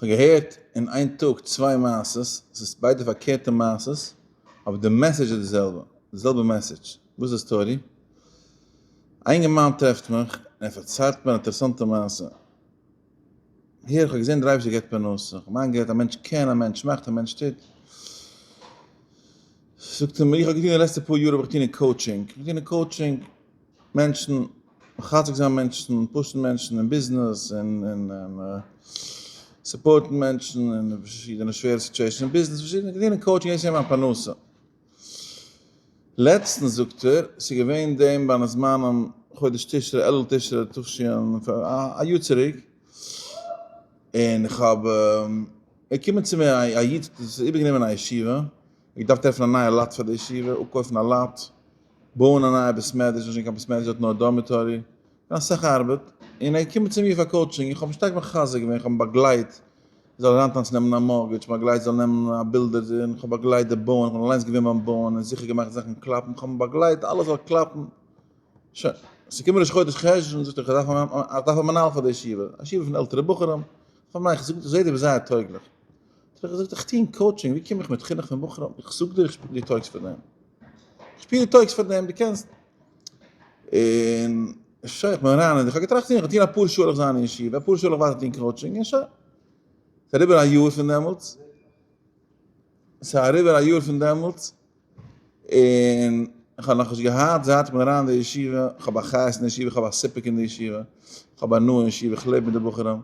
כ'האב געהערט אין איין טאג צוויי מעשות, ס'איז ביידע פארקערטע מעשות, אבער די מעסעדזש איז די זעלבע, די זעלבע מעסעדזש, וואס איז די סטארי? א אינגערמאן טרעפט מיך און ער פארציילט מיר א אינטערעסאנטע מעשה, הער איך האב געזען דער אייבערשטער געבט פרנסה, איך האב מיר איינגערעדט א מענטש קען, א מענטש מאכט, א מענטש טוט, זאגט ער מיר איך האב געטון די לעצטע פאר יאר האב איך געטון אין קאוטשינג, איך בין געווען אין קאוטשינג, מענטשן, מחזק זיין מענטשן, פושן מענטשן אין ביזנעס, און און און סופארטן מענטשן אין פארשידענע שווערע סיטואשענס אין ביזנעס, פארשידענע געווען קאוטשינג דאס איז געווען מיין פרנסה. לעצטנס זאגט ער, ס'איז געווען דעם בין הזמנים חודש תשרי, אלול תשרי תשען, א יאר צוריק, און איך האב, איז געקומען צו מיר א איד, דאס איז איבערגענומען א ישיבה, איר דארפט עפענען א נייע לאט פאר די ישיבה, אפקויפן א לאט, בויען א נייע בית מדרש, נישט גיין קיין בית מדרש דארט נאר דארמיטארי, און אסאך ארבעט, און ער קומען צו מיר פאר קאוטשינג, איך האב אים שטארק מחזק געווען, איך האב אים באגלייט, ער זאל אריינטאנצן נעמען א מארגעדזש, איך האב אים באגלייט זאל נעמען א בילדער, און איך האב באגלייט די בויען, איך בין אליינס געווען ביים בויען און זיכער געמאכט זאכן קלאפן, איך האב אים באגלייט אלעס זאל קלאפן, שוין, עס איז געקומען ראש חודש חשוון, זאגט ער איך דארף א, איך דארף א מנהל פאר די ישיבה, א ישיבה פון עלטערע בחורים, איך זאג אים ניין, איך זעה דו ביסט זייער טויגליך. האט ער געזאגט איך טוה אין קאוטשינג ווי קום איך מיט חינוך פון בחורים איך זאג דיר איך שפיר די טויגס פאר דעם איך שפיר די טויגס פאר דעם די קענסט און שוין איך בין אריין איך האב געטראכט איך טוה אפאר שעה זיין אין ישיבה אפאר שעה וואס די קאוטשינג אין שוין סארי ביר א יאר פון דעמאלטס סארי ביר א יאר פון דעמאלטס און איך האב נאך נישט געהאט זייט איך בין אריין די ישיבה איך האב א חיות אין ישיבה איך האב א סיפוק אין די ישיבה איך האב הנאה אין ישיבה איך לעב מיט די בחורים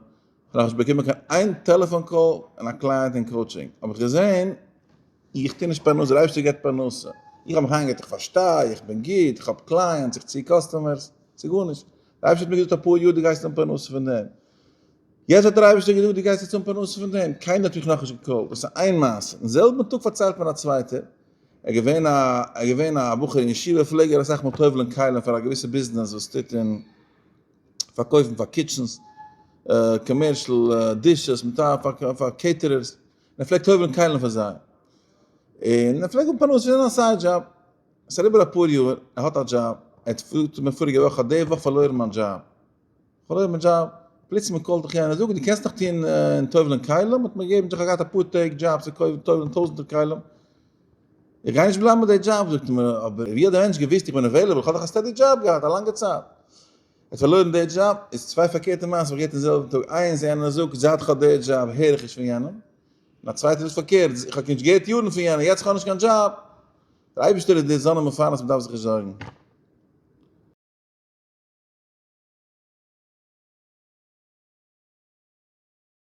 און האב נישט באקומען קיין איין טעלעפאן קאל און א קלייענט אינקראוטשינג האב איך געזען איך טו נישט פרנסה, דער אייבערשטער געבט פרנסה, איך האב מיך איינגערעדט איך פארשטיי, איך בין גוט, איך האב קלייענטס, איך צי קאסטומערס, ס'איז גארנישט, דער אייבערשטער האט מיר געזאגט אפאר יאר דו גייסט האבן פרנסה פון דעם, יעצט האט דער אייבערשטער געזאגט דו גייסט יעצט האבן פרנסה פון דעם, קיינער האט מיך נאכנישט געקאלט, דאס איז איין מעשה, אין זעלבן טאג פארציילט מיר א צווייטער, ער איז געווען א ער איז געווען א בחור אין ישיבה פלעג ער אסאך מאל טובל'ן כלים פאר א געוויסע ביזנעס וואס טוט אין. פארקויפן פאר קיטשענס, קאמערשעל דישעס, מיט א פאר קעיטערערס, און ער פלעגט הויבערן קיילן פאר זיי, און ער פלעגט האבן פרנסה פון זיין א סייד דזשאב, עס אריבער אפאר יאר, ער האט א דזשאב, ער האט פארט צו מיר פאריגע וואך, איך האב די וואך פארלוירן מיין דזשאב, פארלוירן מיין דזשאב, פלוצלינג קאלט דיך יענער, זאג, דו קענסט נאך טון אין טובל'ן כלים, האט מיר געגעבן, איך האב געהאט אפאר טעג דזשאבס אין טובל'ן טויזענטער כלים, איך גיי נישט בלייבן ביי די דזשאב זאגט ער מיר, אבער ווי האט די מענטש געוויסט איך בין עוועילעבל, איך האב דאך א סטעדי דזשאב געהאט א לאנגע צייט, ער האט פארלוירן די דזשאב, איז צוויי פארקערטע מעשים זיך גערעדט אין זעלבן טאג, איינס יענער זאגט זייט איך האב די דזשאב הער איך נישט פון יענעם, און א צווייטער זאגט פארקערט איך האב נישט געהערט יארן פון יענעם, יעצט איך האב נישט קיין דזשאב, דער אייבערשטער איז דער זאנען מפרנס מען דארף זיך נישט זארגן.